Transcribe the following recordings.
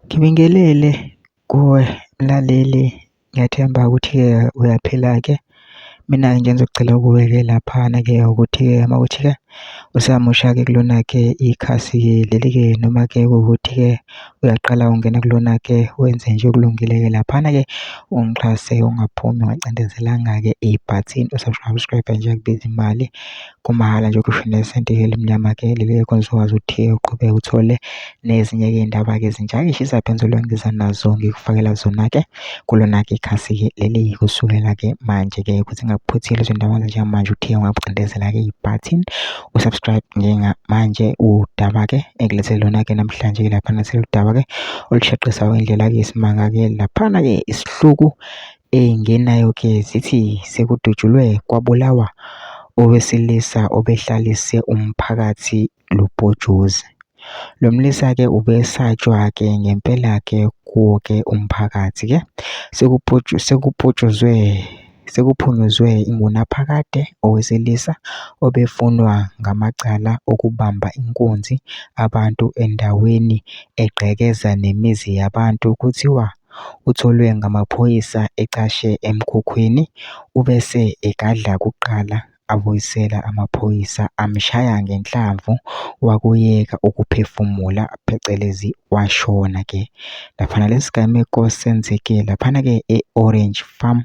Ngibingelele kuwe mlaleli ngiyathemba ukuthi-ke uyaphila-ke. Mina-ke nje engizocela kuwe-ke laphana-ke ukuthi-ke uma kuwukuthi-ke usamusha-ke kulona-ke ikhasi leli-ke noma-ke kuwukuthi-ke uyaqala ukungena kulona-ke wenze nje okulungile-ke laphana-ke ungixhase ungaphumi ungacindezelanga-ke ibhathini u-subscribe-e nje akubizi mali. kumahhala nje ukhishwe nesenti elimnyama ke leli elikhonjiswa ukwazi ukuthi uqhubeke uthole nezinye ke iy'ndaba-ke ezintsha eyi shisa phenzulu engiza nazo ngikufakela zona-ke kulona-ke ikhasi-ke leli kusukela-ke manje-ke ukuthi ngingakuphuthile izindaba njengamanje uthe ungabugqindezela-ke ibhathini usubscribe njengamanje udaba-ke engilethele lona-ke namhlanje ke laphana seludaba-ke olushaqisa indlela-ke isimanga-ke laphana-ke isihluku Eyingenayo ke zithi sekudutshulwe kwabulawa owesilisa obehlalise umphakathi lubhojozi. Lo mlisa ke ubesatshwa ke ngempela ke kuwo ke umphakathi ke. Sekupotshozwe sekuphunyuzwe ingunaphakade owesilisa obefunwa ngamacala okubamba inkunzi abantu endaweni egqekeza nemizi yabantu kuthiwa utholwe ngamaphoyisa ecashe emkhukhwini ubese egadla kuqala abuyisela amaphoyisa amshaya ngenhlamvu wakuyeka ukuphefumula phecelezi washona ke. Laphana lesi gameko senzeke laphana-ke e-Orange Farm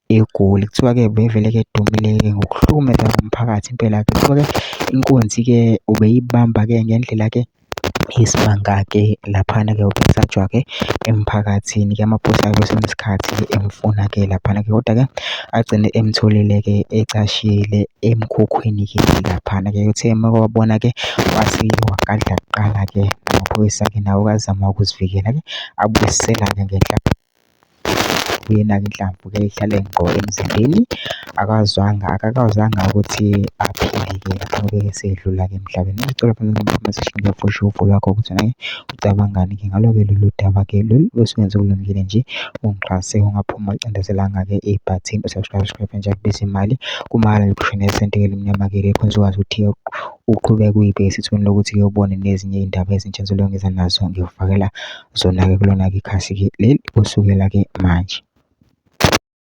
eGoli. Kuthiwa-ke bevele-ke edumile-ke ngokuhlukumeza umphakathi impela-ke. Kuthiwa-ke inkunzi-ke ubeyibamba-ke ngendlela-ke Isimanga-ke laphana-ke ubesatshwa-ke emphakathini-ke amaphoyisa kwesinye isikhathi emfuna-ke laphana-ke koda-ke agcine emtholile-ke ecashile emkhukhwini-ke laphana-ke. Uthe uma ewabona-ke wathi wagadla kuqala-ke amaphoyisa-ke nawo azama ukuzivikela-ke abuyisela-ke ngenhla. Yena-ke inhlamvu-ke ihlale ngqo emzimbeni, akazwanga, akakawazanga ukuthi aphile-ke lapho-ke esedlula-ke emhlabeni. Ngicela ufushufo lwakho ukuthi naye ucabangani-ke ngalo-ke lolu daba-ke lolu osuwenze olungile nje, ungixhase ungaphuma ucindezelanga-ke ibhathini u-subscribe, subscribe nje akubizi imali, kumahhala nje ukhishwa nesenti elimnyama-ke leli uzokwazi ukuthi uqhubeke uyibheke esithweni lokuthi-ke ubone nezinye iy'ndaba ezintsha engizobe ngiza nazo ngikufakela. zona-ke kulona-ke ikhasi-ke leli kusukela-ke manje.